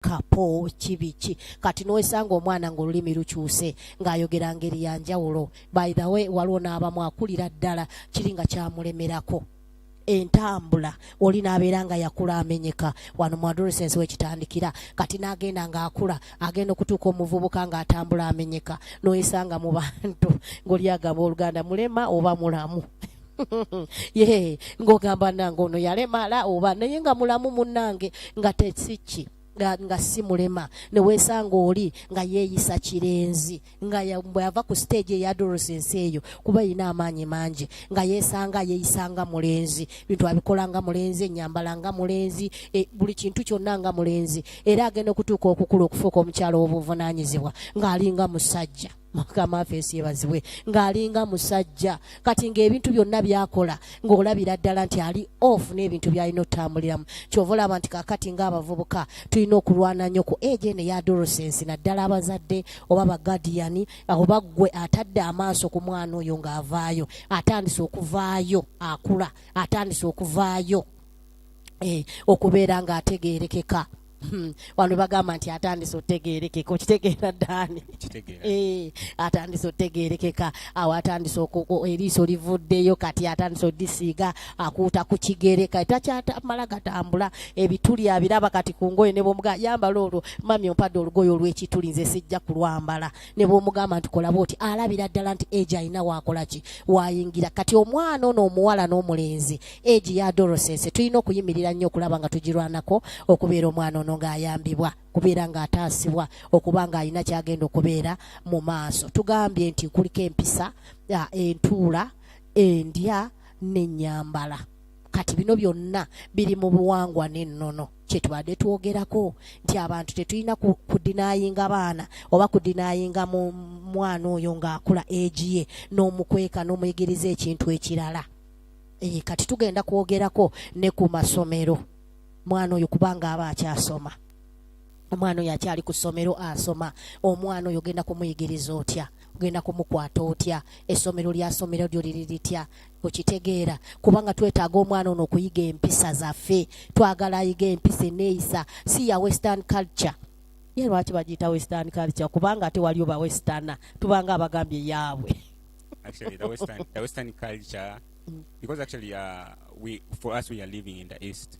kapo kibiki kati nowesanga omwana ngaolulimi lukyuse ngaayogera ngeri ya njawulo by the way waliwo n'abamu akulira ddala kiri nga kyamulemerako entambula oli n'abeera nga yakula amenyeka wano mu adolescence wekitandikira kati n'agenda ng'akula agenda okutuuka omuvubuka ng'atambula amenyeka noyesanga mu bantu ng'oli agamba oluganda mulema oba mulamu ye ng'ogamba nange ono yalemala oba naye nga mulamu munange nga tesikki nga, nga si mulema ne weesanga oli nga yeeyisa kirenzi nga bwe yava ku siteegi eyadorosa ensi eyo kuba erina amaanyi mangi nga yeesanga yeeyisa nga mulenzi bintu abikola nga mulenzi ennyambala nga mulenzi e, buli kintu kyonna nga mulenzi era agenda okutuuka okukula okufuuka omukyalo w'obuvunaanyizibwa ng'alinga musajja mukama affe ensi yebazibwe ng'alinga musajja kati ng'ebintu byonna byakola ng'olabira ddala nti ali off n'ebintu byalina otambuliramu kyova olaba nti kakati ng'abavubuka tulina okulwana nnyo ku age ene ya dorosensi naddala abazadde oba bagadiyani oba ggwe atadde amaaso ku mwana oyo ng'avaayo atandise okuvaayo akula atandise okuvaayo eh, okubeera ng'ategeerekeka Hmm, wano bagamba nti atandise otegerekeka okitegeera daani eh, atandise otegerekeka awo atandise eriiso livuddeyo kati atandise odisiiga akuuta ku kigere kati takyatamala gatambula ebituli abiraba kati ku ngoye ne bwomuga yambala olwo mami ompadde olugoye olw'ekituli nze sijja kulwambala ne bwomugamba nti kola bwoti alabira ddala nti egi alina wakola ki wayingira kati omwana ono omuwala n'omulenzi egi ya dorosese tulina okuyimirira nnyo okulaba nga tugirwanako okubeera omwana ono ng'ayambibwa okubeera ng'ataasibwa okuba ng'alina kyagenda okubeera mu maaso tugambye nti kuliko empisa entuula endya n'ennyambala kati bino byonna biri mu buwangwa n'ennono kyetubadde twogerako nti abantu tetulina kudinayinga baana oba kudinayinga mu mwana oyo ng'akula egiye n'omukweka n'omuyigiriza ekintu ekirala ee kati tugenda kwogerako ne ku masomero mwana oyo kubanga aba akyasoma omwana oyo akyali ku ssomero asoma omwana oyo ogenda kumuyigiriza otya genda kumukwata otya esomero lya somero lyo liri litya okitegeera kubanga twetaaga omwana ono okuyiga empisa zaffe twagala ayiga empisa eneeyisa si ya western culture ye lwaki bagiyita western culture kubanga ate waliyo ba westerna tubanga abagambye yaabwe actually the western, the western culture mm. because actually uh, we for us we are living in the east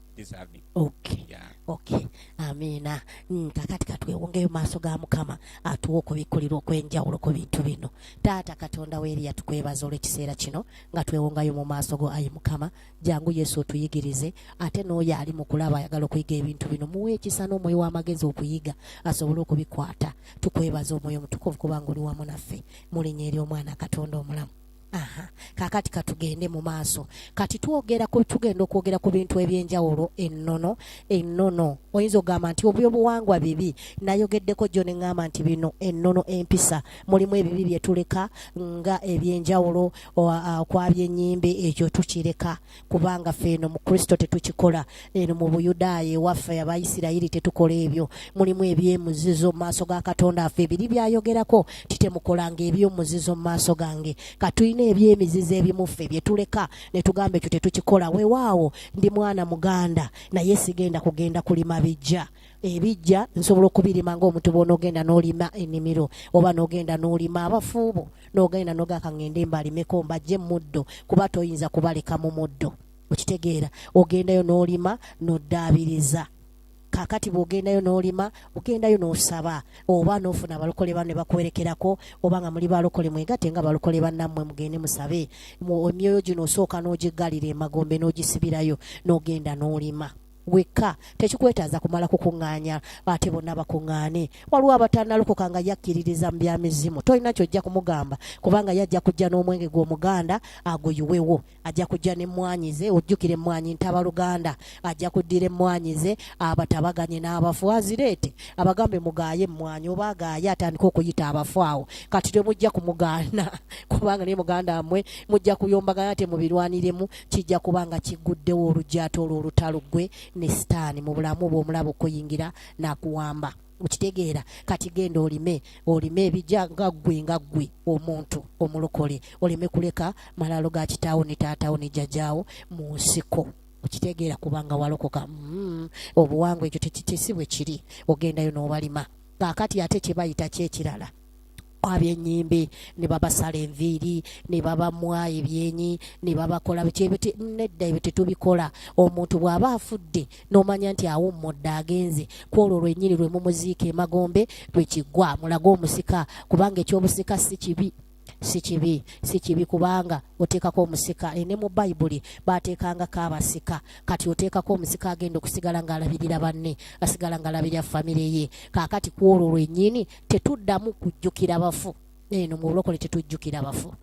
deserving okay yeah okay amiina mm, kakati katwewongeyo maaso ga mukama atuwa okubikkulirwa okwenjawulo ku bintu bino taata katonda weeri yatukwebaza olw'ekiseera kino nga twewongayo mu maaso go ayi mukama jangu yesu otuyigirize ate n'oyo ali mu kulaba ayagala okuyiga ebintu bino muwa ekisa n'omwoyo w'amagezi okuyiga asobole okubikwata tukwebaza omwoyo omutukuvu kubanga oli wamu naffe mu linnya ery'omwana katonda omulamu Aha. kakati katugende mu maaso kati twogera ku tugenda okwogera ku bintu ebyenjawulo ennono ennono oyinza okugamba nti obyobuwangwa bibi nayogeddeko gyo ne ŋŋamba nti bino ennono empisa mulimu ebibi bye tuleka nga ebyenjawulo kwabyenyimbe ekyo tukireka kubanga ffe eno mu kristo tetukikola eno mu buyudaaya ewaffe abaisirayiri tetukola ebyo mulimu ebyemuzizo mu maaso ga katonda affe ebiri byayogerako titemukolanga ebyomuzizo mu maaso gange katulina ebyemizizo ebimuffe byetuleka netugamba ekyo tetukikola wewaawo ndi mwana muganda naye sigenda kugenda kulima bijja ebijja nsobola okubirima ngaomuntu bwonaogenda nolima enimiro oba nogenda nolima abafuubo n'ogenda noga kangende mbalimeko mbajje muddo kuba toyinza kubaleka mu muddo okitegeera ogendayo n'olima n'oddaabiriza kakati bwogendayo nolima ogendayo nosaba oba nofuna abalokole bano nebakuwerekerako oba nga muli balokole mwegate nga balokole banammwe mugende musabe emyoyo gino osooka nogigalira emagombe nogisibirayo nogenda nolima wekka tekikwetaaza kumala kukuŋŋaanya ate bonna bakuŋŋaane waliwo abatanalokoka nga yakkiririza mu byamizimu tolina kyojja kumugamba kubanga ye ajja kujja n'omwenge gw'omuganda aguyiwewo ajja kujja n'emmwanyi ze ojjukira emmwanyi ntaba luganda ajja kuddira emmwanyi ze abatabaganye n'abafu azireete abagambe mugaaye emmwanyi oba agaaye atandika okuyita abafu awo kati temujja kumugaana kubanga naye muganda mmwe mujja kuyombagana temubirwaniremu kijja kuba nga kigguddewo olugyato olwo olutalo ggwe ne sitaani mu bulamu bwe omulaba okuyingira n'akuwamba okitegeera kati genda olime olime ebija nga ggwe nga ggwe omuntu omulokole oleme kuleka malalo ga kitaawo ne taatawo ne jjajaawo mu nsiko okitegeera kubanga walokoka mm, obuwangwa ekyo tekitisi bwe kiri ogendayo n'obalima kaakati ate kye bayita kyekirala abyenyimbe ne babasala enviiri ne babamwa ebyenyi ne babakola bikyebuti nedda ebyo tetubikola omuntu bw'aba afudde n'omanya nti awummudde agenze ku olwo lwennyini lwe mumuziika emagombe lwe kiggwa mulage omusika kubanga eky'obusika si kibi si kibi si kibi kubanga oteekako omusika e ne mu bayibuli baateekangako abasika kati oteekako omusika agenda okusigala ng'alabirira banne asigala ng'alabirira famire ye kaakati ku olwo lwennyini tetuddamu kujjukira bafu eno mu bulokole tetujjukira bafu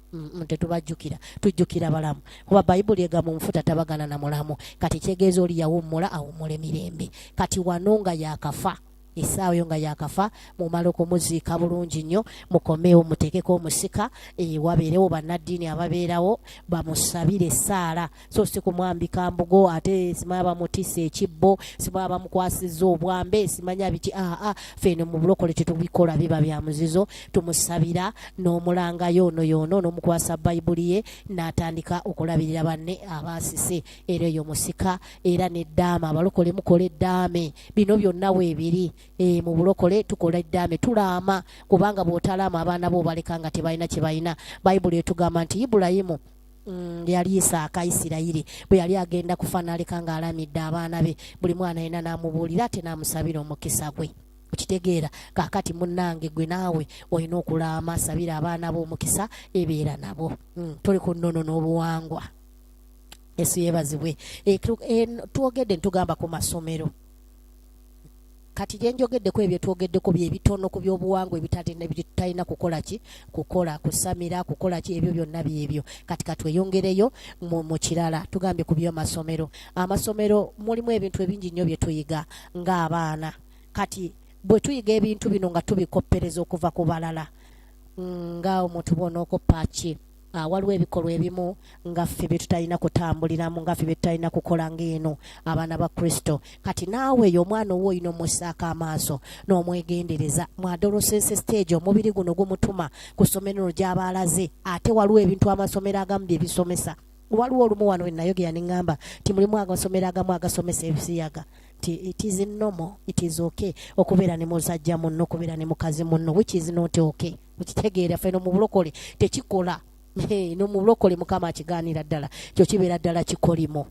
tetubajjukira tujjukira balamu kuba bayibuli egamba omufu tatabagana na mulamu kati kyegeeza oli yawummula awummula emirembe kati wano nga yakafa esaawa yo nga yakafa mumala okumuziika bulungi nnyo mukomeewo muteekeko omusika eh, wabeerewo bannaddiini ababeerawo bamusabire esaala so si kumwambika mbugo ate simanya bamutisa ekibbo simanya bamukwasiza obwambe simanya biki aa ah, ah, feno mu bulokole tetubikola biba bya muzizo tumusabira n'omulanga yoono yoono n'omukwasa bayibuli ye n'atandika okulabirira banne abaasise era eyo musika era n'eddaame abalokole mukola eddaame bino byonna weebiri e, mu bulokole tukola eddaame tulaama kubanga bw'otalaama abaana bo obaleka nga tebalina kye balina bayibuli etugamba nti ibulayimu Mm, yali isaaka isirayiri bwe yali agenda kufa naleka ng'alamidde abaana be buli mwana yena n'amubuulira ate n'amusabira omukisa gwe okitegeera kakati munange gwe naawe olina okulaama sabira abaana bo omukisa ebeera nabo mm, tuli ku nnono n'obuwangwa esu yebazibwe e, e, twogedde ntugamba ku masomero kati gye njogeddeko ebyo twogeddeko bye bitono ku byobuwangwa ebitalina kukola ki kukola kusamira kukola ki ebyo byonna byebyo kati katweyongereyo mu kirala tugambye ku byomasomero amasomero mulimu ebintu ebingi nnyo bye tuyiga ng'abaana kati bwe tuyiga ebintu bino nga tubikoppereza okuva ku balala nga omuntu bwonaokoppa ki Ah, waliwo ebikolwa ebimu nga ffe bye tutalina kutambuliramu nga ffe bye tutalina kukola ng'eno abaana ba kristo kati naawe yo omwana owo olina omussaako amaaso n'omwegendereza mwadolosese stage omubiri guno gumutuma ku ssomero no gy'aba alaze ate waliwo ebintu amasomero agamu bye bisomesa waliwo olumu wano wenayogera ne ŋŋamba nti mulimu agasomero agamu agasomesa ebisiyaga nti it is normal it is okay okubeera ne musajja munno okubeera ne mukazi munno which is not okay mukitegeera ffe no mubulokole tekikola no mubulokole mukama akigaanira ddala kyo kibeera ddala kikolimo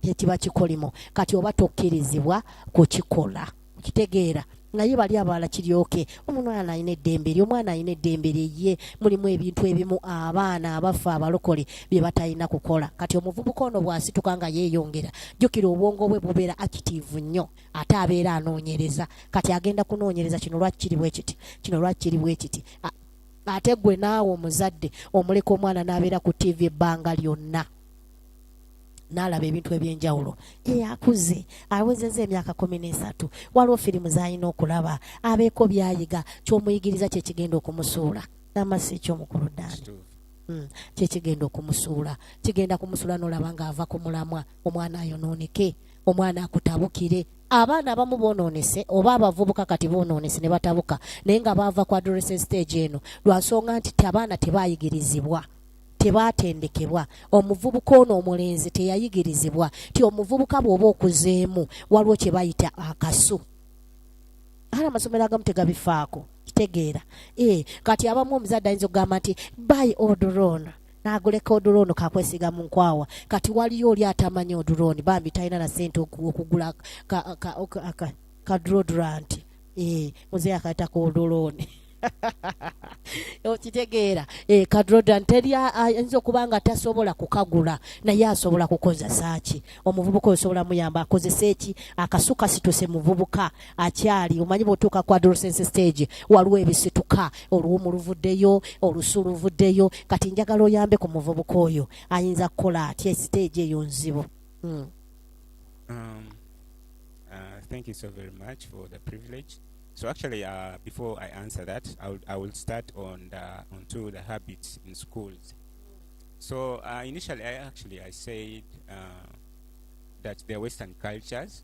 kyekiba kikolimo kati oba tokkirizibwa kukikola kitegeera naye bali abalala kiryoke omwana alina eddembe eri omwana alina eddembe lyeye mulimu ebintu ebimu abaana abaffe abalokole bye batalina kukola kati omuvubuka ono bw'asituka nga yeeyongera jjukira obwongo bwe bubeera akitiivu nnyo ate abeera anoonyereza kati agenda kunoonyereza kino lwaki kiri bwe kiti kino lwaki kiri bwe kiti ate gwe naawe omuzadde omuleka omwana n'abeera ku ttiivi ebbanga lyonna n'alaba ebintu eby'enjawulo eyakuze awezeza emyaka kumi n'esatu waliwo firimu z'alina okulaba abeeko byayiga ky'omuyigiriza kye kigenda okumusuula namasi eky'omukulu ddaani hmm, kye kigenda okumusuula kigenda kumusuula n'olaba ng'ava ku mulamwa omwana ayonooneke omwana akutabukire abaana abamu bonoonese oba abavubuka kati bonoonese ne batabuka naye nga baava ku adolescent stage eno lwa nsonga nti abaana tebaayigirizibwa tebaatendekebwa omuvubuka ono omulenzi teyayigirizibwa ti omuvubuka bw'oba okuzeemu waliwo kye bayita akasu ala amasomero agamu tegabifaako kitegeera ee eh, kati abamu omuzadde ayinza okugamba nti by odrona naguleka odulooni kakwesiga mu nkwawa kati waliyo oli atamanyi odulooni bambi talina na sente okugula kadroduranti eh, muze akaita ku odulooni okitegeera eh, kadrodan teri ayinza okuba nga tasobola kukagula naye asobola kukozesa ki omuvubuka osobola muyamba akozese ki akasuka situse muvubuka akyali omanyi bwotuuka ku adolescence stage waliwo ebisituka oluwumu luvuddeyo olusu luvuddeyo kati njagala oyambe ku muvubuka oyo ayinza kukola atya stage eyo nzibu hmm. um, uh, thank you so very much for the privilege So actually, uh, before I answer that, I will, I will start on the, onto the habits in schools. So uh, initially, I actually I said uh, that they're Western cultures,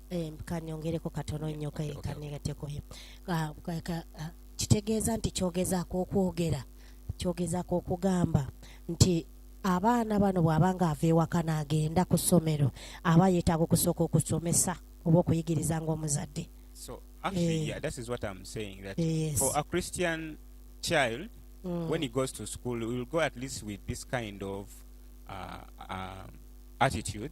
eh, kanyongereko katono nnyo kanegateko ah, ah, kitegeeza nti kyogezaako okwogera kyogezaako okugamba nti abaana bano bw'aba nga ava ewaka n'agenda ku ssomero aba yeetaaga okusooka okusomesa oba okuyigiriza ng'omuzadde so actually eh. yeah, that is what i'm saying that yes. for a christian child mm. when he goes to school will go at least with this kind of uh, uh, attitude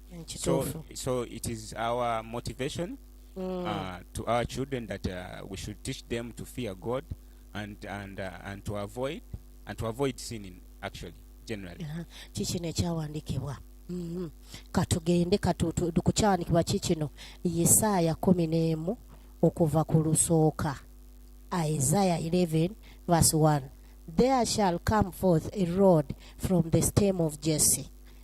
so, so it is our motivation mm. uh, to our children that uh, we should teach them to fear god and, and, uh, and to avoid and to avoid sinning actually generally uh-huh. kikino ekyawandiikibwa mm-hmm. katugende katukukyawandikibwa kikino yisaaya kumi n'emu okuva ku lusooka isaiah 11 verse 1 there shall come forth a rod from the stem of jesse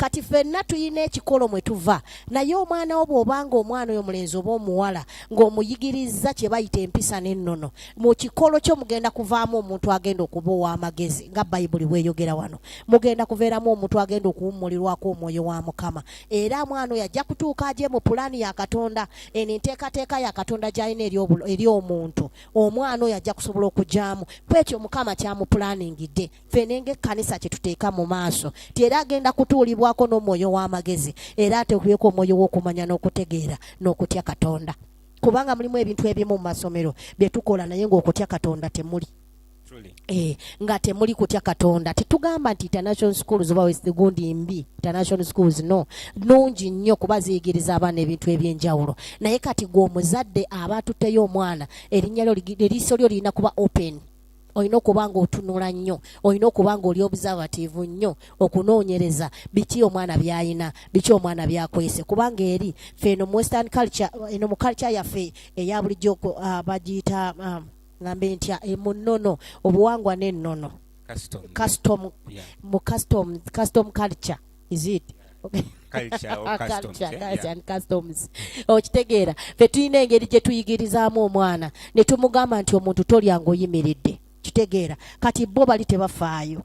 kati fenna tulina ekikolo mwe tuva naye omwana wo bw'obanga omwana oyo mulenzi oba omuwala ng'omuyigirizza kye bayita empisa n'ennono mu kikolo kyo mugenda kuvaamu omuntu agenda okuba ow'amagezi nga bayibuli bweyogera wano mugenda kuveeramu omuntu agenda okuwummulirwako omwoyo wa mukama era mwana oyo ajja kutuuka agye mu pulaani ya katonda eno enteekateeka ya katonda gy'alina eri omuntu omwana oyo ajja kusobola okugyamu kwekyo mukama kyamupulaaningidde ffe nenga ekkanisa kye tuteeka mu maaso nti era agenda kutuulibwako n'omwoyo w'amagezi era ateekubeko omwoyo w'okumanya n'okutegeera n'okutya katonda kubanga mulimu ebintu ebimu mu masomero bye tukola naye ng'okutya katonda temuli Eh, nga temuli kutya katonda tetugamba nti international schools oba wesigundi mbi international schools no nungi nnyo kuba ziyigiriza abaana ebintu ebyenjawulo naye kati gwe omuzadde aba atuteyo omwana erinya lyo eriiso lyo lirina kuba open olina okuba nga otunula nnyo olina okuba nga oli observative nnyo okunoonyereza biki omwana byayina biki omwana byakwese kubanga eri fe eno mu western culture eno mu culture yaffe eya bulijjo uh, bagiyita um, ngambe ntya e, mu nnono obuwangwa n'ennono custom, custom, yeah. mu custom, custom culture is it okay. okitegeera fe tulina engeri gye tuyigirizaamu omwana ne tumugamba nti omuntu tolya ngaoyimiridde kitegeera kati bo bali tebafaayo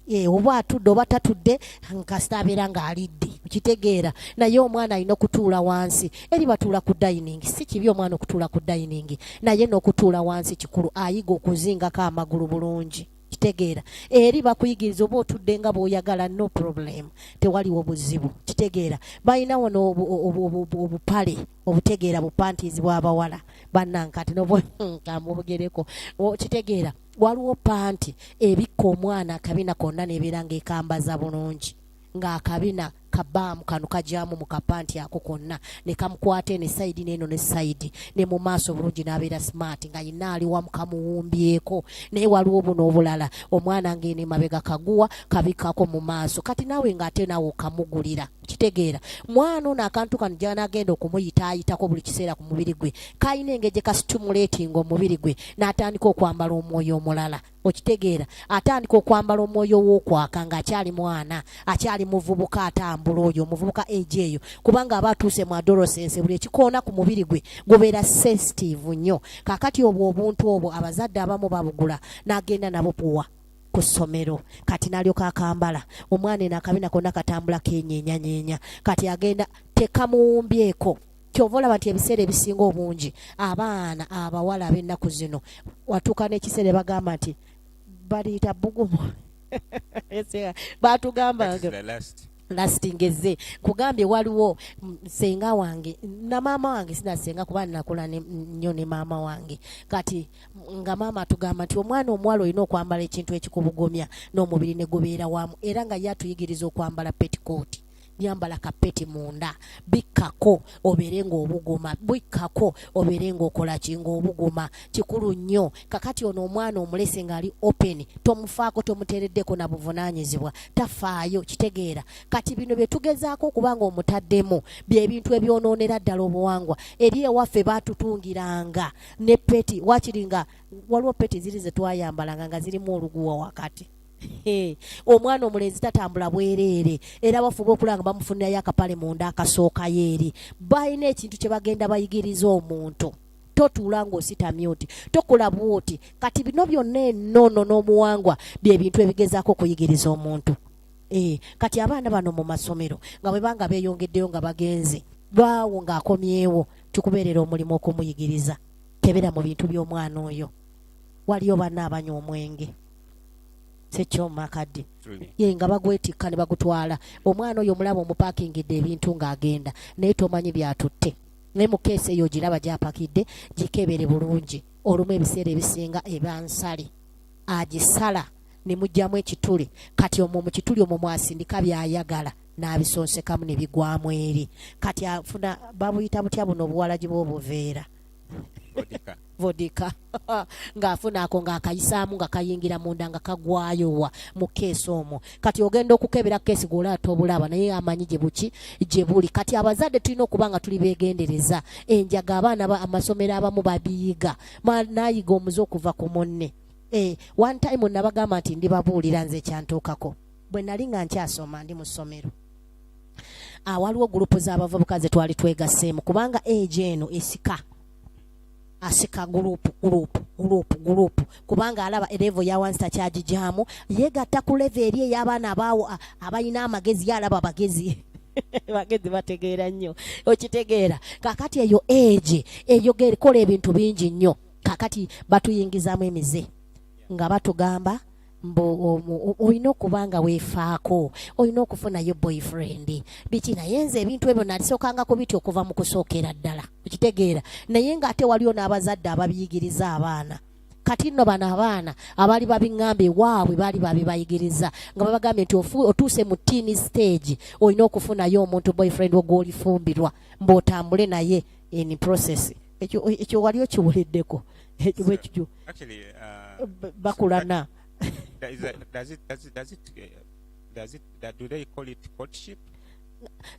eh, oba atudde oba tatudde nkasita abeera ng'alidde okitegeera naye omwana alina okutuula wansi eri batuula ku dayiningi si kibi omwana okutuula ku dayiningi naye n'okutuula wansi kikulu ayiga okuzingako amagulu bulungi kitegeera eri bakuyigiriza oba otudde nga bwoyagala no problem tewaliwo buzibu kitegeera balina wano obupale obutegeera bupantizi bwabawala banankati nomubugereko hmm, kitegeera waliwo panti ebikka omwana akabina konna nebeera ngaekambaza bulungi ngaakabina kabaamu kano kagyamu mu kapanti ako konna ne kamukwata eno esayidi neeno ne sayidi ne mu maaso obulungi n'abeera simaati nga yina ali wamu kamuwumbyeko naye waliwo buno obulala omwana ng'eno emabega kaguwa kabikkako mu maaso kati naawe ng'ate naawe okamugulira kitegeera mwana ono akantu kano gyanagenda okumuyita ayitako buli kiseera ku mubiri gwe kalina engeri gye kasitumuleetinga omubiri gwe n'atandika okwambala omwoyo omulala okitegeera atandika okwambala omwoyo w'okwaka ng'akyali mwana akyali muvubuka atambula oyo omuvubuka egi eyo kubanga aba atuuse mu adolosense buli ekikoona ku mubiri gwe gubeera sensitive nnyo kakati obwo obuntu obwo abazadde abamu babugula n'agenda nabo puwa ku ssomero kati nalyoka akambala omwana eno akabina konna katambula kenyenyanyeenya kati agenda tekamuwumbyeko kyova olaba nti ebiseera ebisinga obungi abaana abawala ab'ennaku zino watuuka n'ekiseera bagamba nti baliyita bugumu batugamba lastingeze kugambye waliwo senga wange na maama wange sinasenga kuba nakula nnyo ne maama wange kati nga maama atugamba nti omwana omuwala olina okwambala ekintu ekikubugumya n'omubiri ne gubeera wamu era nga ye atuyigiriza okwambala petikooti yambala kapeti munda bikkako obeere ng'obuguma bikkako obeere ng'okola ki ng'obuguma kikulu nnyo kakati ono omwana omulese ng'ali open tomufaako tomuteereddeko na buvunaanyizibwa tafaayo kitegeera kati bino bye tugezaako okuba ng'omutaddemu bye bintu ebyonoonera ddala obuwangwa eri ewaffe baatutungiranga ne peti wakiri nga waliwo peti ziri ze twayambalanga nga zirimu oluguwa wakati omwana omulenzi tatambula bwereere era bafuba okulaba nga bamufunirayo akapale munda akasookayo eri balina ekintu kye bagenda bayigiriza omuntu totuula ng'ositamye oti tokola bwoti kati bino byonna enono n'omuwangwa bye bintu ebigezaako okuyigiriza omuntu eh, kati abaana bano mu masomero nga bwe banga beeyongeddeyo nga bagenze baawo ng'akomyewo kikubeerera omulimu okumuyigiriza kebera mu bintu by'omwana oyo waliyo banna abanywa omwenge sekyoma akadde ye nga bagwetikka ne bagutwala omwana oyo omulaba omupakingidde ebintu ng'agenda naye tomanyi byatutte naye mu keesi eyo ogiraba gyapakidde gikebere bulungi olumu ebiseera ebisinga eba nsale agisala ne mugyamu ekituli kati omwo mu kituli omwo mwasindika by'ayagala n'abisonsekamu ne bigwamu eri kati afuna babuyita butya buno obuwalagi bw'obuveera vodika ng'afuna ako ng'akayisaamu nga kayingira munda nga kagwayowa mu keesi omwo kati ogenda okukebera keesi gweolaata obulaaba naye amanyi gye buki gye buli kati abazadde tulina okuba nga tuli beegendereza enjaga abaana amasomero abamu babiyiga naayiga omuze okuva ku munne eh, one time nabagamba nti ndibabuulira nze ekyantuukako bwe nali nga nkyasoma ndi mu ssomero ah, waliwo gurupu z'abavubuka ze twali twegaseemu kubanga egi eno esika asika gurupu gurupu gurupu gurupu kubanga alaba erevo ya wansi takyagigyamu yeegatta ku levo eri ey'abaana abaawo ah, abalina amagezi ye alaba bagezi bagezi bategeera nnyo okitegeera kakati eyo egi eyogere kola ebintu bingi nnyo kakati batuyingizamu emize nga batugamba mbu olina okuba nga weefaako olina okufunayo boyfriend biki naye nze ebintu ebyo nalisookanga ku biti okuva mu kusookera ddala okitegeera naye ng'ate waliwo n'abazadde ababiyigiriza abaana kati nno bano abaana abaali babiŋŋamba ewaabwe baali babibayigiriza nga babagambye nti otuuse mu tiini stage olina okufunayo omuntu boyfriend ogwolifumbirwa mbu otambule naye in process ekyo wali okiwuliddeko ekyo bwekityo Actually, uh, eh, bakulana. So is that, does it does it does it uh, does it that, do they call it courtship?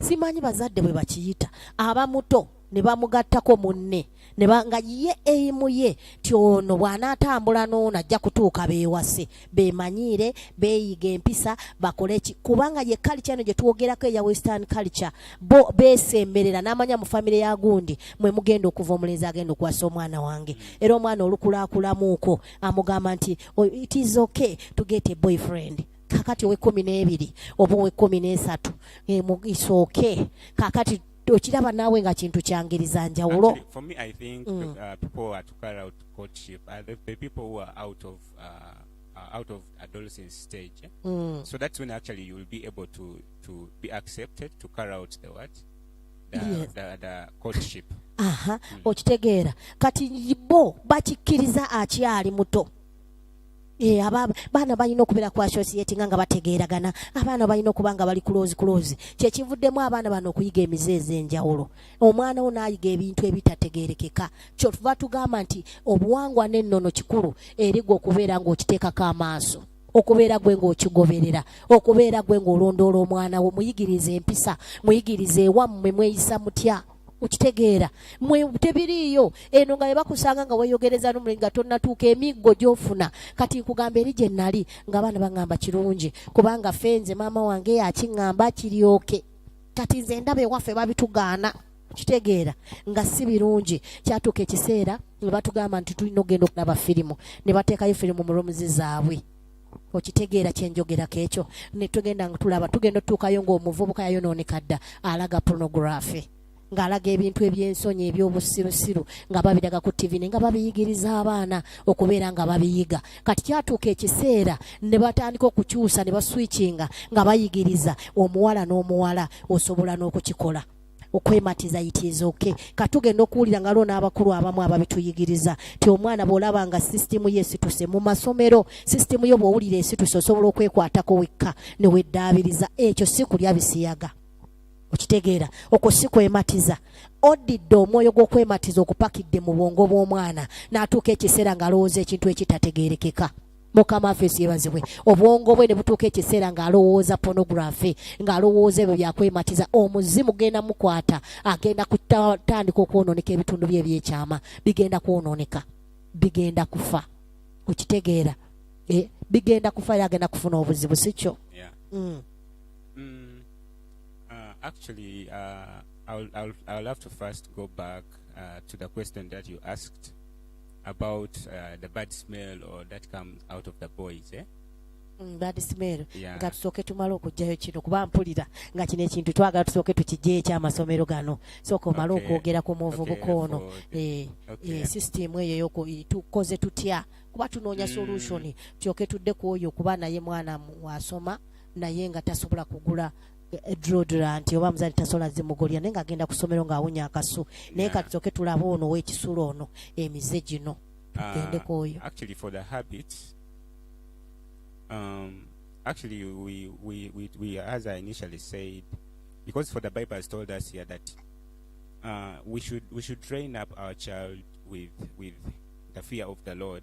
Simanyi bazadde bwe bakiyita abamuto ne bamugattako munne ne nga ye eyimu ye ti ono bw'anaatambula n'ono ajja kutuuka beewase bemanyiire beeyiga empisa bakole ki kubanga ye kalica eno gye twogerako eya western culture bo beesemberera n'amanya mu famire ya gundi mwe mugenda okuva omulenzi agenda okuwasa omwana wange era omwana olukulaakulamuuko amugamba nti oh, it is okay to get a boyfriend kakati owekumi n'ebiri oba owekumi n'esatu eh, isooke kakati okiraba naawe nga kintu kyangiriza njawulo mm. uh, uh, uh, out of adolescence stage. Eh? Mm. So that's when actually you will be able to to be accepted to carry out the what the, yeah. the, the courtship. Aha, uh-huh. mm. okitegeera kati bo bakikkiriza akyali muto Eh, abaana balina okubeera ku associati nga nga bategeeragana abaana balina okuba nga bali kuloozi kuloozi kyekivuddemu abaana bano okuyiga emize ez'enjawulo omwana wo naayiga ebintu ebitategerekeka kyotuva tugamba nti obuwangwa n'ennono kikulu erigwa okubeera ng'okiteekako amaaso okubeera gwe ng'okigoberera okubeera gwe ng'olondoola omwana wo muyigiriza empisa muyigiriza ewammwe mweyisa mutya okitegeera mwe tebiriiyo eno nga bebakusanga nga weyogereza nomuli nga tonnatuuka emiggo gyofuna kati nkugamba eri gye nnali ng'abaana baŋŋamba kirungi kubanga fenze maama wange yakiŋŋamba kiryoke kati nze ndaba ewaffe babitugaana kitegeera nga si birungi kyatuuka ekiseera ne batugamba nti tulina okugenda okulaba firimu ne bateekayo firimu mu romuzi zaabwe okitegeera kyenjogerako ekyo netugenda nga tulaba tugenda otutuukayo ngaomuvubuka yayonooneka dda alaga pornography ng'alaga ebintu eby'ensonyi eby'obusirusiru nga babiraga ku ttivi ne nga babiyigiriza abaana okubeera nga babiyiga kati kyatuuka ekiseera ne batandika okukyusa ne baswikinga nga bayigiriza omuwala n'omuwala osobola n'okukikola okwematiza yitiiza oke katugenda okuwulira nga lwo n'abakulu abamu ababituyigiriza ti omwana bw'olaba nga sisitimu ye esituse mu masomero sisitimu yo bw'owulira esituse osobola okwekwatako wekka ne weddaabiriza ekyo si kulya bisiyaga okitegeera okwo si kwematiza odidde omwoyo gw'okwematiza okupakidde mu bwongo bw'omwana n'atuuka ekiseera ng'alowooza ekintu ekitategeerekeka mukama affe siyebazibwe obwongo bwe ne butuuka ekiseera ng'alowooza pornography ng'alowooza ebyo byakwematiza omuzimu genda mukwata agenda kutandika okwonooneka ebitundu bye ebyekyama bigenda kwonooneka bigenda kufa okitegeera eh, bigenda kufa yagenda kufuna obuzibu si kyo yeah. mm. Mm, uh, actually, uh, I'll, I'll, I'll have to first go back uh, to the question that you asked about uh, the bad smell or that comes out of the boys, eh? Mm, bad smell yeah. nga tusooke tumale okugjayo kino kuba mpulira nga kino ekintu twagala tusooke tukijjeyo ekyamasomero gano sooka omale okay. okwogera ku muvubuka okay, ono okay. e, e, system eyo yoko tukoze tutya kuba tunoonya mm. solution mm. tyoke tudde ku oyo kuba naye mwana wasoma naye nga tasobola kugula drodrant oba muzali tasola zimugolya naye ng'agenda ku ssomero ng'awunya akasu naye kati toke tulaba ono ow'ekisulo ono emize gino tugendeko ah, oyo actually for the habit um, actually we, we, we, we as i initially said because for the bible has told us here that uh, we should we should train up our child with with the fear of the lord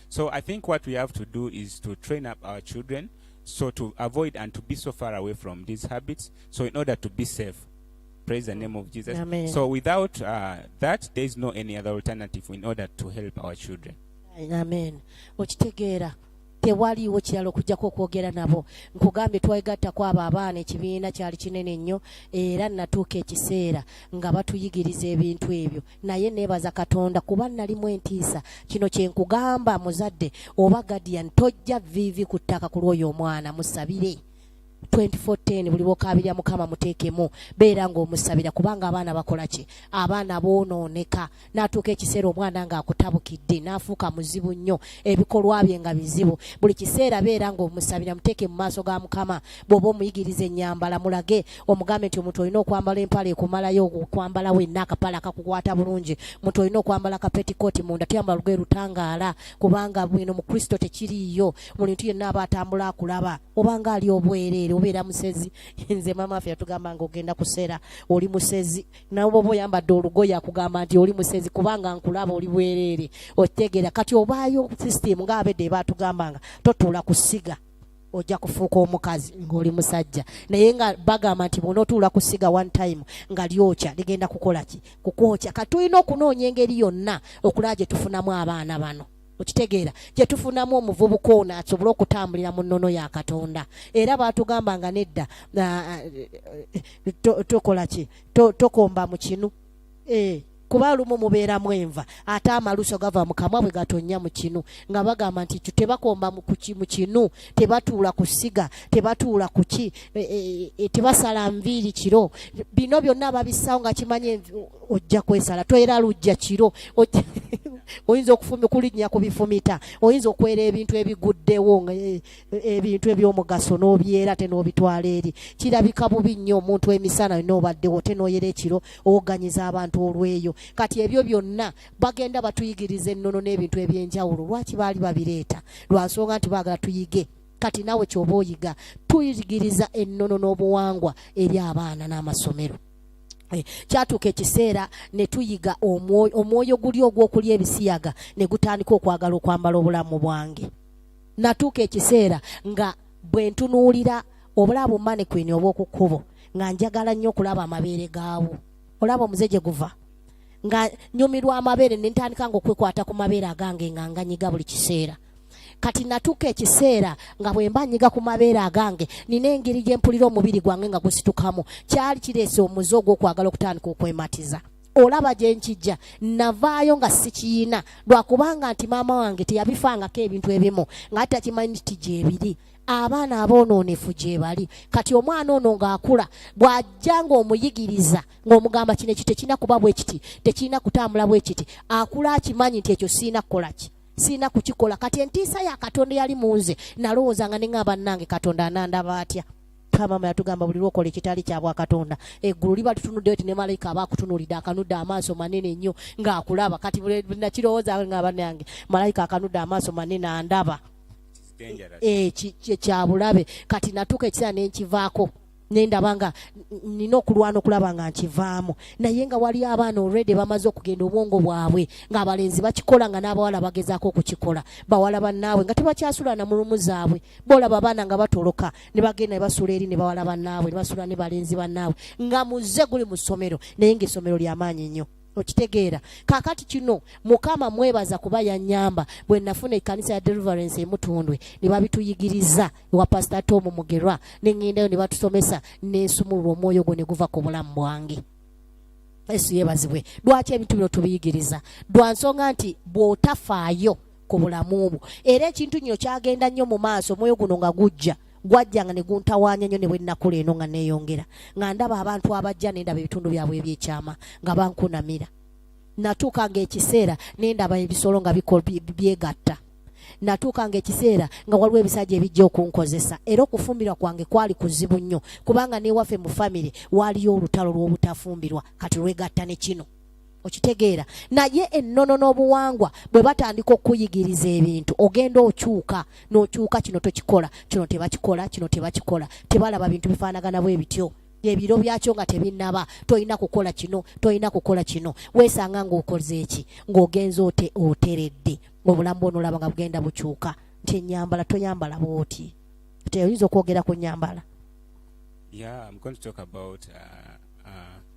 So I think what we have to do is to train up our children so to avoid and to be so far away from these habits. So in order to be safe, praise the name of Jesus. Amen. So without uh, that, there is no any other alternative in order to help our children. Amen. Okitegeera tewaliiwo kirala okujjako okwogera nabo nkugambye twegattako abo abaana ekibiina kyali kinene nnyo era natuuka ekiseera nga batuyigiriza ebintu ebyo naye nebaza katonda kuba nalimu entiisa kino kyenkugamba muzadde oba guardian tojja vivi ku ttaka ku lwoyo omwana musabire 2410 buli bokabirya mukama muteekemu beera ng'omusabira kubanga abaana bakola ki abaana boonooneka n'atuuka ekiseera omwana ng'akutabukidde n'afuuka muzibu nnyo ebikolwa bye nga bizibu buli kiseera beera ng'omusabira muteeke mu maaso ga mukama bw'oba omuyigiriza ennyambala mulage omugambe nti omuntu olina okwambala empale ekumalayo okwambala wenna akapale akakukwata bulungi omuntu olina okwambala kapetikooti munda tuyambala lugoye lutangaala kubanga bwino mu kristo tekiriiyo buli ntu yenna aba atambula akulaba obanga ali obwereere obeera musezi nze maama affe yatugamba nga ogenda kusera oli musezi nawe oba oyambadde olugoye akugamba nti oli musezi kubanga nkulaba oli bwereere okitegeera kati obaayo system nga abedde ebaatugambanga totuula kusiga ojja kufuuka omukazi ng'oli musajja naye nga bagamba nti bwonaotuula ku siga one time nga lyokya ligenda kukola ki kukwokya kati tulina okunoonya engeri yonna okulaba gye tufunamu abaana bano okitegeera gye tufunamu omuvubuka ono asobole okutambulira mu nnono ya katonda era baatugamba nga nedda ah, ah, eh, eh, tokola ki tokomba mu kinu eh, kuba lumu mubeeramu enva ate amaluso gava mu kamwa bwe gatonnya mu kinu nga bagamba nti ekyo tebakomba mu kinu tebatuula ku ssiga tebatuula ku ki e, e, e, tebasala nviiri kiro bino byonna babisawo nga kimanye ojja kwesala toera lujja kiro oyinza okulinnya ku bifumita oyinza okwera ebintu ebiguddewo ebintu ebyomugaso nobyera te nobitwala eri kirabika bubi nnyo omuntu emisana yona obaddewo te noyera ekiro owoganyiza abantu olweyo kati ebyo byonna bagenda batuyigiriza ennono n'ebintu ebyenjawulo lwaki baali babireeta lwansonga nti baagala tuyige kati nawe kyoba oyiga tuyigiriza ennono n'obuwangwa eri abaana n'amasomero Eh, kyatuuka ekiseera ne tuyiga omwoyo guli ogw'okulya ebisiyaga ne gutandika okwagala okwambala obulamu bwange natuuka ekiseera nga bwe ntunuulira obulaabo mane kwini obw'oku kkubo nga njagala nnyo okulaba amabeere gaawo olaba omuze gye guva nga nyumirwa amabeere ne ntandika nga okwekwata ku mabeere agange nga nganyiga buli kiseera kati natuuka ekiseera nga bwe mba nyiga ku mabeere agange nina engeri gye mpulira omubiri gwange nga gusitukamu kyali kireese omuze ogw'okwagala okutandika okwematiza olaba gye nkijja navaayo nga sikiyina lwakubanga nti maama wange teyabifangako ebintu ebimu nga ate akimanyi nti gyebiri abaana aboonoonefu gyebali kati omwana ono ng'akula bw'ajja ng'omuyigiriza ng'omugamba kino ekyo tekirina kuba bwe kiti tekirina kutambula bwe kiti akula akimanyi nti ekyo sirina kukola ki sirina kukikola kati entiisa ya katonda yali mu nze nalowooza nga ne nga bannange katonda anandaba atya mama yatugamba buli lwokola ekitali kya bwakatonda eggulu liba litunuddeyo ti ne malayika aba akutunulidde akanudde amaaso manene nnyo ng'akulaba kati nakirowooza nga banange malayika akanudde amaaso manene andaba eh, kyabulabe kati natuuka ekiseera nenkivaako nendaba nga nina okulwana okulaba nga nkivaamu naye nga wali abaana olredi bamaze okugenda obwongo bwabwe ngaabalenzi bakikola nga n'abawala bagezaako okukikola bawala bannaabwe nga tebakyasulana mu lumu zaabwe boolaba abaana nga batoloka ne bagenda ne basuula eri ne bawala bannaabwe ne basuula ne balenzi bannaabwe nga muze guli mu ssomero naye ng'essomero lyamaanyi nnyo okitegeera kakati kino mukama mwebaza kuba yanyamba bwe nafuna ekkanisa ya deliverance emutundwe ne babituyigiriza ewa pasita tomu mugerwa ne ŋŋendayo ne batusomesa n'ensumulula omwoyo gwo ne guva ku bulamu bwange yesu yebazibwe lwaki ebintu bino tubiyigiriza lwa nsonga nti bw'otafaayo ku bulamu bwo era ekintu nyo kyagenda nnyo mu maaso omwoyo guno nga gujja gwajjanga ne guntawaanya nnyo ne bwe nnakula eno nga neeyongera nga ndaba abantu abajja ne ndaba ebitundu byabwe ebyekyama nga bankunamira natuuka ng'ekiseera ne ndaba ebisolo nga byegatta natuuka ng'ekiseera nga waliwo ebisajja ebijja okunkozesa era okufumbirwa kwange kwali kuzibu nnyo kubanga n'ewaffe mu famire waaliyo olutalo lw'obutafumbirwa kati lwegatta ne kino okitegeera naye ennono n'obuwangwa bwe batandika okukuyigiriza ebintu ogenda okyuka n'okyuka kino tokikola kino tebakikola kino tebakikola tebalaba bintu bifaanagana bwe bityo ebiro byakyo nga tebinnaba tolina kukola kino tolina kukola kino weesanga ng'okoze eki ng'ogenza ote oteredde ng'obulamu bwona olaba nga bugenda bukyuka nti enyambala toyambala bwoti teoyinza okwogera ku nyambala yeah, I'm going to talk about, uh, uh...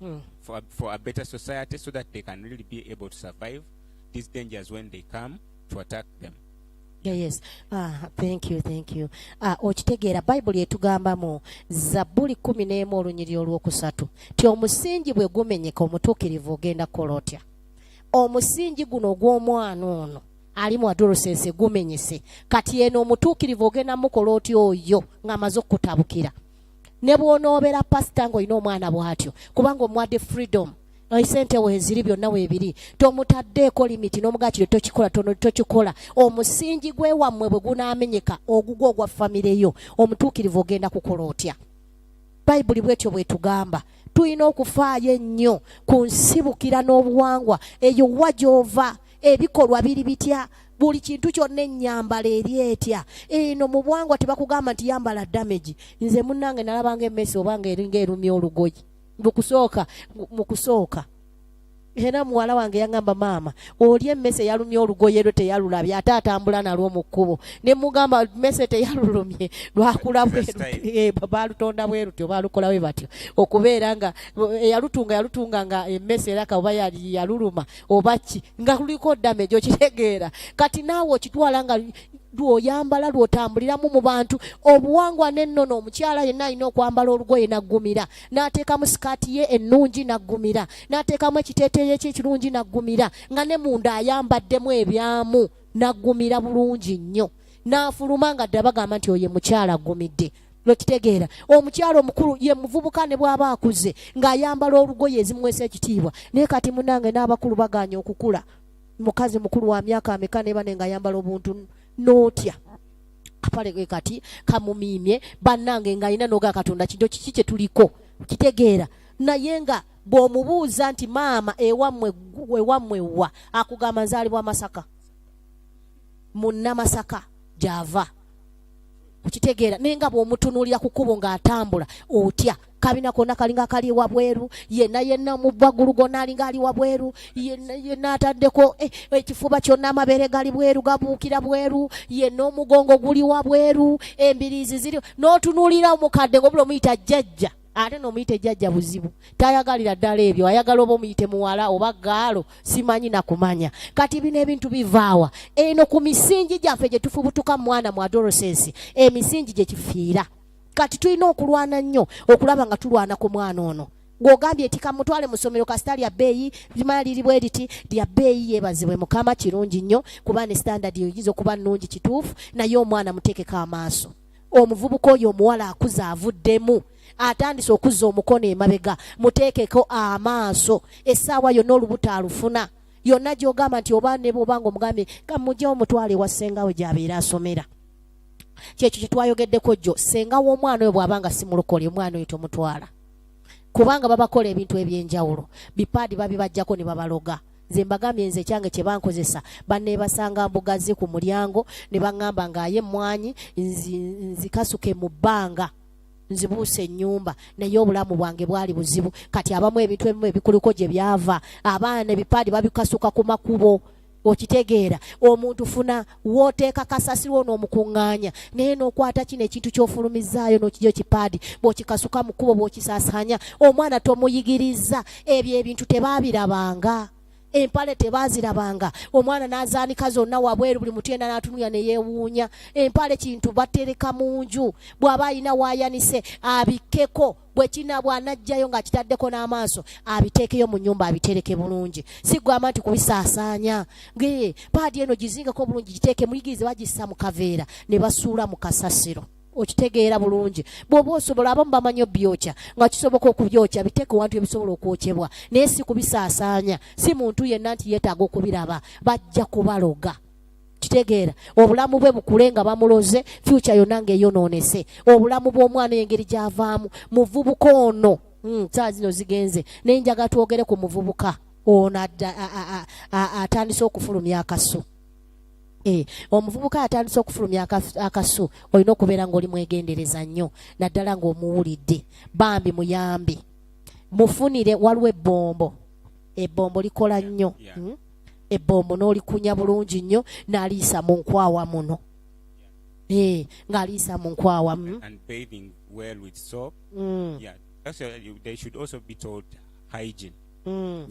mm. for, for a better society so that they can really be able to survive these dangers when they come to attack them. Yeah, yes. Ah, thank you, thank you. Ah, okitegeera Bible yetugamba mu Zabuli 11 olunyiri olwokusatu. Ti omusingi bwe gumenyeka omutuukirivu ogenda kola otya? Omusingi guno ogw'omwana ono ali mu adolescence gumenyese. Kati eno omutuukirivu ogenda mukola otya oyo ng'amaze okukutabukira. ne bw'onoobera pasita ng'olina omwana bw'atyo kubanga omuwadde freedom esente weziri byonna webiri tomutaddeeko limiti n'omugaa kino tokikola tono tokikola omusingi gwe wammwe bwe gunaamenyeka ogugwa ogwa famire yo omutuukirivu ogenda kukola otya bayibuli bwetyo bwetugamba tulina okufaayo ennyo ku nsibukira n'obuwangwa eyo wa gy'ova ebikolwa biri bitya buli kintu kyonna enyambala eri etya eno mu bwangwa tebakugamba nti yambala damage nze munange nalabanga emesi obanga eringa erumya olugoyi mukusooka mukusooka era muwala wange yangamba maama oli emmese yalumye olugoye lwe teyalulabye ate atambula nalwo mu kkubo ne mugamba mmese teyalulumye lwakula eh, baalutonda bwe lutyo baalukola bwe batyo okubeera nga eyalutunga eh, yalutunga nga emmese era kaoba yaluluma oba ki nga luliko damage okitegeera kati naawe okitwala nga lwoyambala lwotambuliramu mu bantu obuwangwa n'ennono omukyala yenna alina okwambala olugoye naggumira n'ateekamu sikaati ye ennungi naggumira n'ateekamu ekiteeteeyo kye ekirungi naggumira nga ne munda ayambaddemu ebyamu naggumira bulungi nnyo n'afuluma nga dda bagamba nti oyo mukyala aggumidde lwekitegeera omukyalo omukulu ye muvubuka ne bwaba akuze ng'ayambala olugoye ezimwesa ekitiibwa naye kati munange n'abakulu baganye okukula mukazi mukulu wa myaka ameka nebane ng'ayambala obuntu n'otya kapale gwe kati kamumiimye bannange ng'alina noga katonda kinto kiki kye tuliko kitegeera naye nga bw'omubuuza nti maama ewammwe ewammwe wa akugamba nzaalibwa masaka munnamasaka gyava okitegeera naye nga bwomutunuulira ku kubo ng'atambula otya kabina kona kalinga kali wabweru yena yena mubagulu gona alinga ali wabweru yena yena atadeko eh, ekifuba kyona amabere gali bweru gabukira bweru yena omugongo guli wabweru embirizi ziri notunulira omukadde ngobula omuyita jjajja ate nomuyite jajja buzibu tayagalira ddala ebyo ayagala oba omuyite muwala oba gaalo simanyi nakumanya kati bino ebintu bivaawa eno ku misingi gyaffe gye tufubutuka mwana mu adolescence emisingi gye kifiira kati tulina okulwana nnyo okulaba nga tulwana ku mwana ono ng'ogambye nti kamutwale mu ssomero kasita lya bbeeyi limala liri bwe liti lya bbeeyi yeebazibwe mukama kirungi nnyo kuba ne standard oyinza okuba nnungi kituufu naye omwana muteekeko amaaso omuvubuka oyo omuwala akuze avuddemu atandise okuzza omukono emabega muteekeko amaaso essaawa yonna olubuto alufuna yonna gyogamba nti oba ne bwoba nga omugambye kamuje omutwale wa ssengawe gyabeera asomera kyekyo kyetwayogeddeko jjo ssenga w'omwana oyo bw'aba nga simulokole omwana oyo tomutwala kubanga babakola ebintu ebyenjawulo bipaadi babibajjako ne babaloga nze mbagambye nze ekyange kye bankozesa banneebasanga mbugazi ku mulyango ne baŋŋamba ng'aye emmwanyi nzikasuke mu bbanga nzibuuse ennyumba naye obulamu bwange bwali buzibu kati abamu ebintu ebimu ebikuluko gye byava abaana ebipaadi babikasuka ku makubo okitegeera omuntu funa wooteeka kasasiro ono omukuŋŋaanya naye n'okwata kino ekintu ky'ofulumizaayo n'okija ekipaadi bw'okikasuka mu kkubo bw'okisasaanya omwana tomuyigiriza ebyo ebintu tebaabirabanga empale tebaazirabanga omwana n'azaanika zonna wabweru buli mutu yena n'atunulira ne yeewuunya empale kintu batereka mu nju bw'aba alina waayanise abikkeko bwe kinaabwa anajjayo ng'akitaddeko n'amaaso abiteekeyo mu nyumba abitereke bulungi si gwamba nti kubisaasaanya ngee paadi eno gizingako bulungi giteeke muyigirize bagissa mu kaveera ne basuula mu kasasiro okitegeera bulungi bwoba osobola abamu bamanyi obyokya nga kisoboka okubyokya biteeke wantu ebisobola okwokyebwa naye si kubisaasaanya si muntu yenna nti yeetaaga okubiraba bajja kubaloga kitegeera obulamu bwe bukule nga bamuloze fyuca yonna ngaeyonoonese obulamu bw'omwana engeri gy'avaamu muvubuka ono hmm, saa zino zigenze naye njaga twogere ku muvubuka ono atandise okufulumya akasu eh, omuvubuka atandise okufulumya akasu olina okubeera ngaoli mwegendereza nnyo naddala ngaomuwulidde bambi muyambi mufunire waliwo ebbombo ebbombo likola nnyo hmm? ebbomu n'olikunya bulungi nnyo n'aliisa mu nkwawa muno eh, ng'aliisa mu nkwawa mm. mm.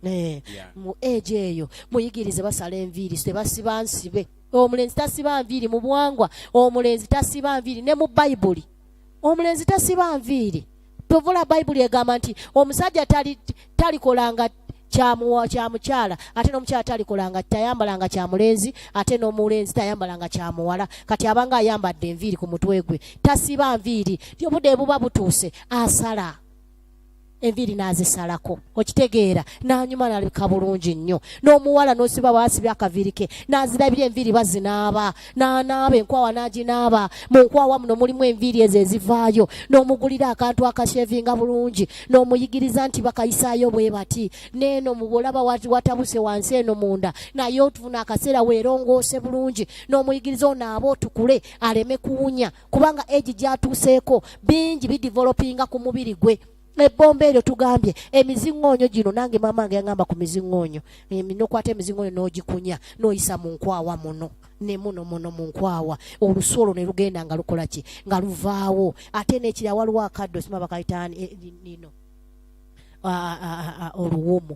eh, mu egi eyo muyigirize basala enviiri tebasiba nsibe omulenzi tasiba nviiri mu buwangwa omulenzi tasiba nviiri ne mu bayibuli omulenzi tasiba nviiri tovula bayibuli egamba nti omusajja talikolanga kyamukyala ate n'omukyala talikolanga tayambalanga kyamulenzi ate n'omulenzi tayambalanga kyamuwala kati abanga ayambadde enviiri ku mutwe gwe tasiba nviiri obudde buba butuuse asala enviiri n'azisalako okitegeera n'anyuma n'alabika bulungi nnyo n'omuwala n'osiba waasibya akaviiri ke n'azirabira enviiri bazinaaba n'anaaba enkwawa n'aginaaba mu nkwawa muno mulimu enviiri ezo ezivaayo n'omugulira akantu akashevinga bulungi n'omuyigiriza nti bakayisaayo bwe bati neeno mubulaba watabuse wansi eno munda naye otufuna akaseera weerongoose bulungi n'omuyigiriza onaaba otukule aleme kuwunya kubanga egi gyatuuseeko bingi bidivolopinga ku mubiri gwe ebbomba eryo tugambye emiziŋoonyo gino nange maama nge yaŋamba ku miziŋoonyo nokwata emiziŋoonyo n'ogikunya n'oyisa mu nkwawa muno ne muno muno mu nkwawa olusu olwo ne lugenda nga lukola ki nga luvaawo ate n'ekira waliwo akaddo sima bakayitaani eh, nino oluwumu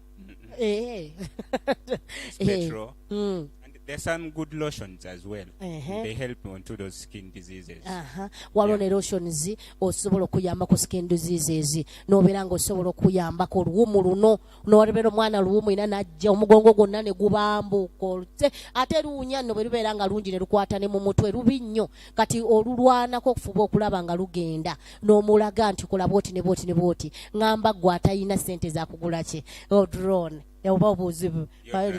Eh. It's Eh. petrol. Mm. And there's some good lotions as well. Uh-huh. They help on to those skin diseases. Aha. waliwo ne lotions osobola okuyamba ku skin diseases nobeera nga osobola okuyambako oluwumu luno nolebera omwana luwumu ina najja omugongo gwonna ne gubambuuka olute ate luwunya nno bwe lubeera nga lungi ne lukwata ne mu mutwe lubi nnyo kati olulwanako okufuba okulaba nga lugenda n'omulaga nti kola bwoti ne bwoti ne bwoti ngamba gwe atalina sente zakugula kye oh, drone oba obuzibu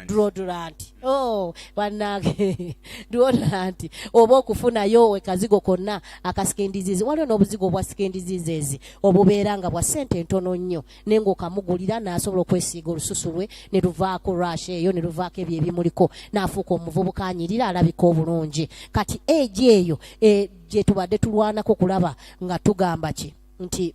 duodulanti oh, banange duodulanti oba okufunayo wekazigo konna akasikendizizi waliwo n'obuzigo obwa sikendizizeezi obubeera nga bwa sente entono nnyo naye ngaokamugulira n'asobola okwesiiga olususu lwe ne luvaako rush eyo ne luvaako ebyo ebimuliko n'afuuka omuvubuka anyirira alabika obulungi kati egi eyo e, gyetubadde tulwanako kulaba nga tugamba ki nti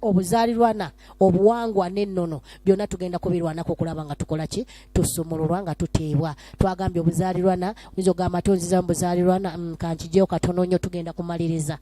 obuzaalirwana obuwangwa n'ennono byonna tugenda kubirwanako okulaba nga tukola ki tusumululwa nga tuteebwa twagambye obuzaalirwana oyinza ogamba tonziza mu buzaalirwana mm, kankijeyo katono nnyo tugenda kumaliriza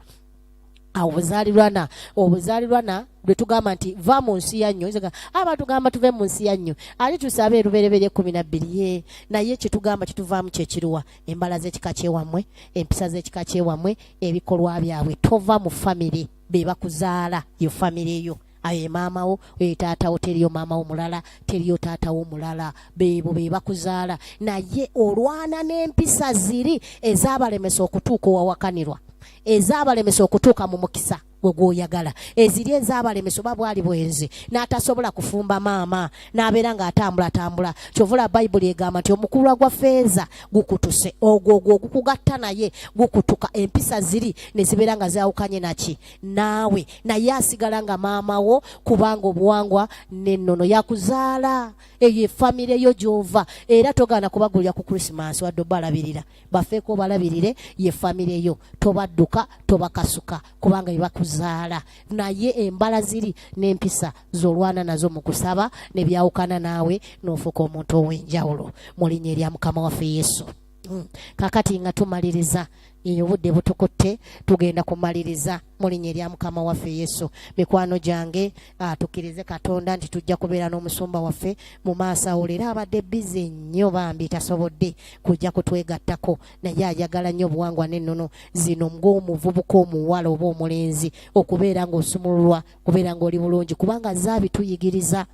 awo buzaalirwana obuzaalirwana lwe tugamba nti va mu nsi ya nnyo aba tugamba tuve mu nsi ya nnyo ali tusabe erubereberye ekkumi nabbiri ye naye kyetugamba kyetuvaamu kyekiruwa embala z'ekika kyewammwe empisa z'ekika kyewammwe ebikolwa byabwe tova mu famire be bakuzaala yo famire yo ayo emaama wo oyo taata wo teriyo maama wo mulala teriyo taata wo mulala beebo be bakuzaala naye olwana n'empisa ziri ezabalemesa okutuuka owawakanirwa ezabalemesa okutuuka mu mukisa gwe gwoyagala eziri ezabalemesa oba bwali bwenzi n'atasobola kufumba maama n'abeera ng'atambulatambula kyovula bayibuli egamba nti omukulwa gwa feeza gukutuse ogwo ogwo ogukugatta naye gukutuka empisa ziri ne zibeera nga zaawukanye naki naawe naye asigala nga maama wo kubanga obuwangwa n'ennono yakuzaala eyo efamire yo gy'ova era togaana kubagulira ku krisimansi wadde obalabirira bafeeko obalabirire ye famire yo tobadduka tobakasuka kubanga bebakuzaala naye embala ziri n'empisa zolwana nazo mu kusaba nebyawukana naawe n'ofuuka omuntu ow'enjawulo mu linnya erya mukama waffe yesu hmm. kakati nga tumaliriza eyo obudde butukutte tugenda kumaliriza mu linnya erya mukama waffe yesu mikwano gyange ah, tukkirize katonda nti tujja kubeera n'omusumba waffe mu maaso awo leero abadde bize nnyo bambi tasobodde kujja kutwegattako naye ayagala nnyo obuwangwa n'ennono zino ng'omuvubuka omuwala oba omulenzi okubeera ng'osumululwa kubeera ng'oli bulungi kubanga zaabituyigiriza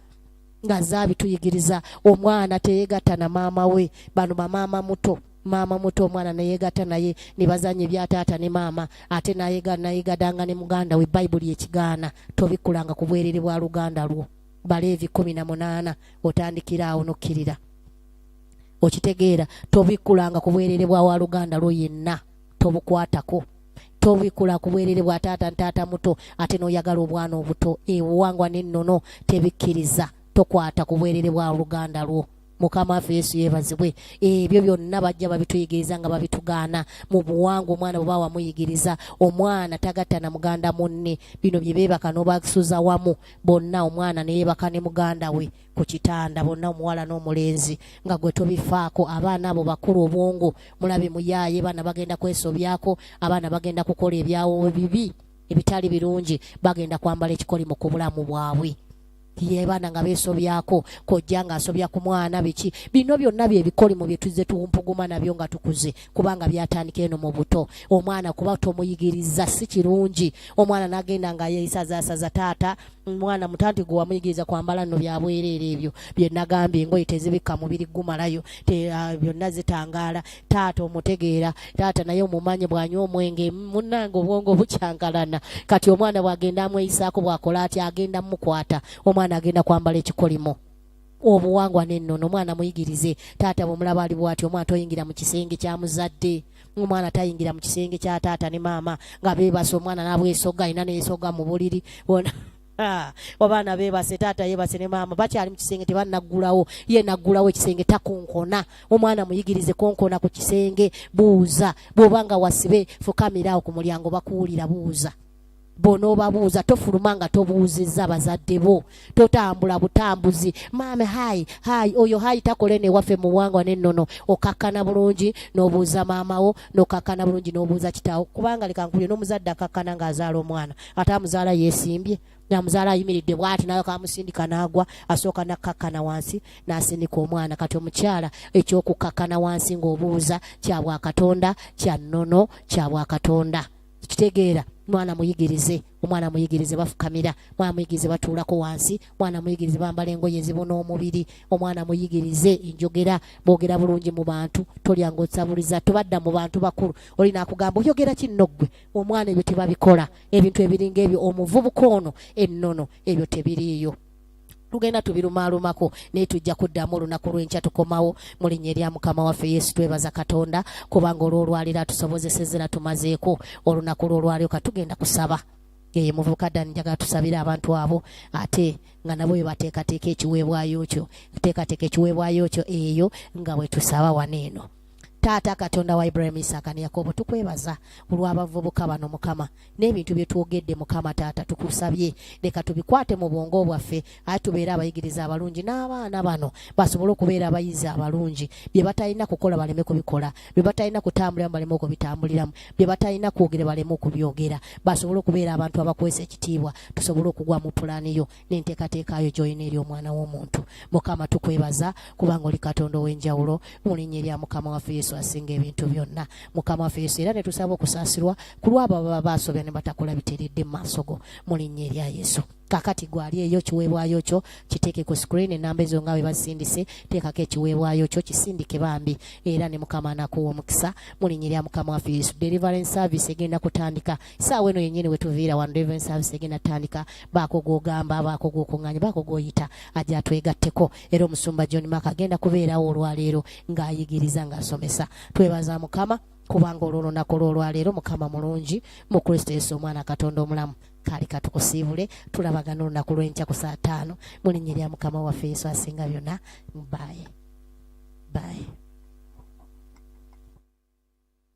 nga zaabituyigiriza omwana teyegatta na maama we bano bamaama muto maama muto omwana neyegatta naye nebazanya ebya taata ne maama ate nayegadanga ne muganda we bayibuli ekigaana tobikulanga ku bwerere bwa luganda lwo baleevi kumi na munaana otandikira awo nokkirira okitegeera tobikulanga ku bwerere bwa waluganda lwo yenna tobukwatako tobikula ku bwerere bwa taata ntaata muto ate noyagala obwana obuto ebuwangwa nennono tebikkiriza tokwata ku bwerere bwa luganda lwo mukama waffe yesu yebazibwe ebyo byonna bajja babituyigiriza nga babitugaana mu buwanga omwana bwe bawamuyigiriza omwana tagatta na muganda munne bino bye beebaka n'obasuza wamu bonna omwana ne yeebaka ne muganda we ku kitanda bonna omuwala n'omulenzi nga gwe tobifaako abaana abo bakulu obwongo mulabe muyaaye baana bagenda kwesobyako abaana bagenda kukola ebyawo bibi ebitali birungi bagenda kwambala ekikolimo ku bulamu bwabwe yebaana nga beesobyako kojja ng'asobya ku mwana biki bino byonna bye bikolimo bye tuzze tuwumpuguma nabyo nga tukuze kubanga byatandika eno mu buto omwana kuba tomuyigiriza si kirungi omwana n'agenda nga yeisazaasaza taata mwana mutanti gwe wamuyigiriza kwambala nno byabwereera ebyo bye nagambye engoye tezibikka mubiri gumalayo ah, byonna zitangaala taata omutegeera taata naye omumanyi bwanywa omwenge munange obwongo bukyankalana kati omwana bwagenda amweyisaako bwakola ati agenda mukwata omwana agenda kwambala ekikolimo obuwangwa nennono omwana muyigirize taata bwemulaba ali bwati omwana toyingira mu kisenge kya muzadde omwana tayingira mu kisenge kya taata ne maama nga bebasa omwana nabwesoga alina nesoga mu buliri bona Ah, obaana bebase taata yebase ne maama bakyali mu kisenge tebanaggulawo ye naggulawo ekisenge takonkona omwana muyigirize konkona ku kisenge buuza bw'oba nga wasibe fukamirawo ku mulyango bakuwulira buuza bw'onoobabuuza tofuluma nga tobuuzizza bazadde bo totambula butambuzi maame hayi hayi oyo hayi takole newaffe muwangwa nennono okakkana bulungi n'obuuza maamawo n'okakkana bulungi n'obuuza kitaawo kubanga leka nkubye n'omuzadde akakkana ng'azaala omwana ate amuzaala yesimbye namuzaala ayimiridde bwati nayo kamusindika nagwa asooka nakkakkana wansi nasindika omwana kati omukyala ekyokukkakkana wansi ngaobuuza kyabwakatonda kya nnono kyabwakatonda kitegeera mwana muyigirize omwana muyigirize bafukamira mwana muyigirize batuulako wansi mwana muyigirize bambala engoye ezibuna omubiri omwana muyigirize enjogera bogera bulungi mu bantu tolyanga osabuliza tobadda mu bantu bakulu olina akugamba oyogera kinno ggwe omwana ebyo tebabikola ebintu ebiringa ebyo omuvubuka ono ennono ebyo tebiriiyo tugenda tubirumaalumako naye tujja kuddamu olunaku lw'enkya tukomawo mu linnya erya mukama waffe yesu twebaza katonda kubanga olw'olwaliro atusobozeseza era tumazeeko olunaku lw'olwaliro katugenda kusaba eye muvubuka dani njagala tusabire abantu abo ate nga nabo bebateekateeka ekiweebwayo kyo teekateeka ekiweebwayo kyo eyo nga bwe tusaba wano eno taata katonda wa ibrahim isaka ne yakobo tukwebaza olw'abavubuka bano mukama n'ebintu bye twogedde mukama taata tukusabye leka tubikwate mu bwongo bwaffe aye tubeere abayigiriza abalungi n'abaana bano basobole okubeera abayizi abalungi bye batalina kukola baleme kubikola bye batalina kutambuliramu baleme okubitambuliramu bye batalina kwogera baleme okubyogera basobole okubeera abantu abakwesa ekitiibwa tusobole okugwa mu pulaani yo n'enteekateeka yo gy'olina eri omwana w'omuntu mukama tukwebaza kubanga oli katonda ow'enjawulo mu linnya erya mukama waffe yesu asinga ebintu byonna mukama waffe yesu era ne tusaba okusaasirwa ku lwabo ababa baasobya ne batakola biteredde mu maaso go mu linnya erya yesu kakati gwali eyo kiweebwayo kyo kiteeke ku screen enamba ezo nga bwe basindise teekako ekiweebwayo kyo kisindike bambi era ne mukama anakuwa omukisa mu linnya erya mukama waffe yesu deliverance service egenda kutandika saawa eno yennyini wetuviira wano deliverance service egenda tutandika baako gwogamba baako gwokunganya baako gwoyita aja atwegatteko era omusumba john mak agenda kubeerawo olwaleero ng'ayigiriza ng'asomesa twebaza mukama kubanga olwolunaku lwolwaleero mukama mulungi mu kristo yesu omwana katonda omulamu kali katukusiibule tulabagana olunaku lwenkya ku saa taano mulinnya erya mukama waffe yesu asinga byonna baye baye